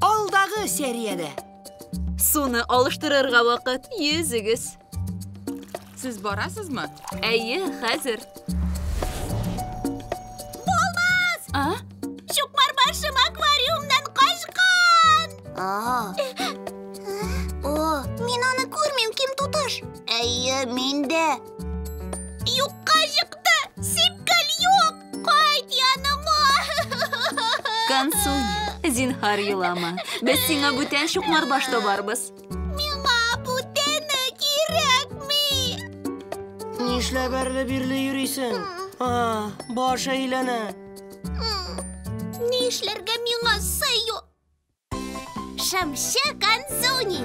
Алдагы сериядә. Суны алыштырырга вакыт. Йөзегез. Сез барасызмы? Әйе, хәзер. Булмас! А? Чукмар башым аквариумнан качкан! А. О, мин аны күрмим, ким туташ. Әйе, мин дә. Юкка чыкты! Сипкәл юк! Консуни, зинһар елама. Без сиңа бүтән чукмар баш табарбыз. Миңа бүтәне кирәкми. Нишләп әрле бирле йөрисең? А, баш әйләнә. Ни эшләргә миңа сыю? Шымчы Консуни.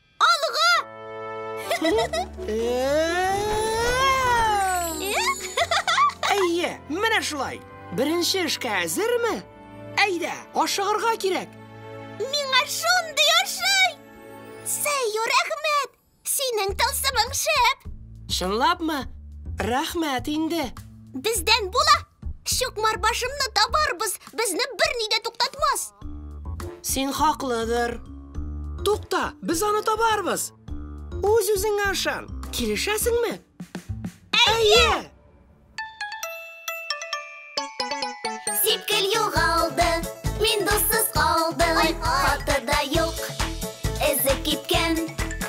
Алга! Әйе, менә шулай. Беренче эшкә әзерме? Әйдә, ашыгырга кирәк. Миңа шундый ошый! Сәю, рәхмәт! Синең тылсымың шәп! Чынлапмы? Рәхмәт инде. Бездән була! Чукмар башымны табарбыз, безне берни дә туктатмас. Син хаклыдыр. Тукта, без аны табарбыз. Үз-үзеңә ышан. Килешәсеңме? Әйе! Сипкел югалды, мин дуссыз калдым. Хаты да юк, эзе киткән.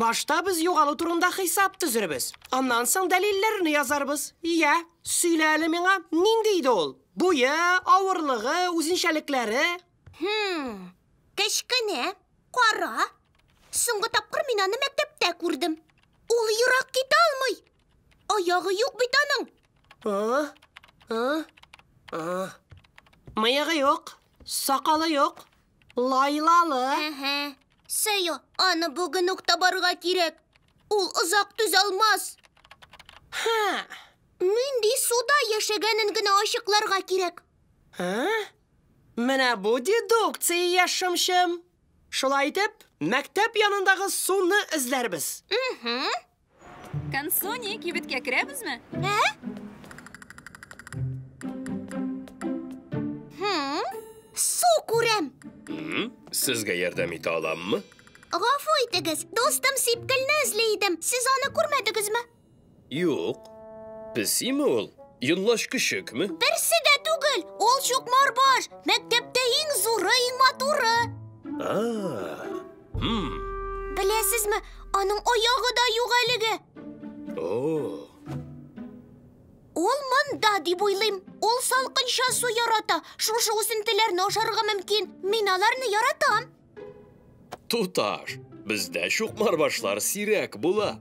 Башта без югалу турында хисап төзербез. Аннан соң дәлилләрне язарбыз. Иә, сөйлә әле миңа, нинди иде ул? Буе, авырлыгы, үзенчәлекләре? Хм, кечкенә, кара. Соңгы тапкыр мин аны мәктәптә күрдем. Ул ерак китә алмый. Аягы юк бит аның. А? А? А? Мыегы юк, сакалы юк, лайлалы. Әһә. Сәя, аны бүген үк табарга кирәк. Ул озак түзалмас. Ха. Нинди суда яшәгәнен генә ачыкларга кирәк. А? Менә бу дедукция яшымчым. Шулай итеп, мәктәп янындагы суны эзләрбез. Угу. Концу ни кибеткә керәбезме? Ә? Хм, су күрәм. Сезгә ярдәм итә аламмы? Гафу итегез, дустым сипкелне эзли идем. Сез аны күрмәдегезме? Юк. Песиме ул? Йонлач көчекме? Берсе дә түгел. Ул чукмар баш. Мәктәптә иң зуры, иң матуры. А, Беләсезме, аның аягы да юк әлеге. Ул монда дип уйлыйм. Ул салкынча су ярата. Шушы үсентеләрне ашарга мөмкин. Мин аларны яратам. Туташ, бездә чукмарбашлар сирәк була.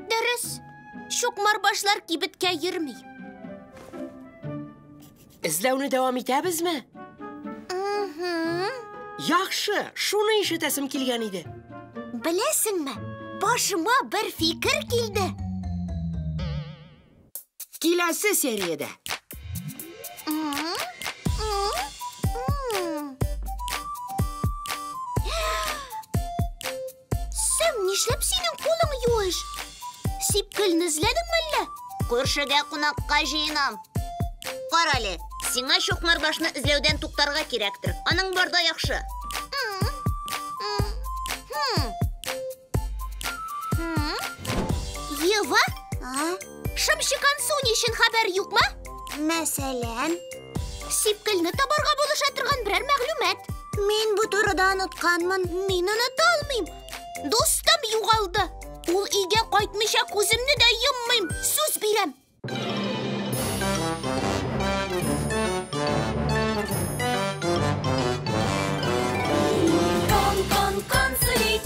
Дөрес. Чукмарбашлар кибеткә йөрми. Эзләүне дәвам итәбезме? Яхшы, шуны ишетәсем килгән иде. Беләсеңме, башыма бер фикер килде. Киләсе сериядә. Син нишләп синең кулың юеш? Сипкелне эзләдеңме әллә? Күршегә кунакка җыенам. Кара әле, сиңа чукмарбашны эзләүдән туктарга кирәктер. Аның барда яхшы. Ева, Шымчыган су ни өчен хәбәр юкмы? Мәсәлән, Сипкелне табарга булыша торган берәр мәгълүмат. мин бу турыда онытканмын. Мин оныта алмыйм. Дустым югалды. Ул өйгә кайтмыйча күземне дә йоммыйм. Сүз бирәм. Кон-кон-кон, сулик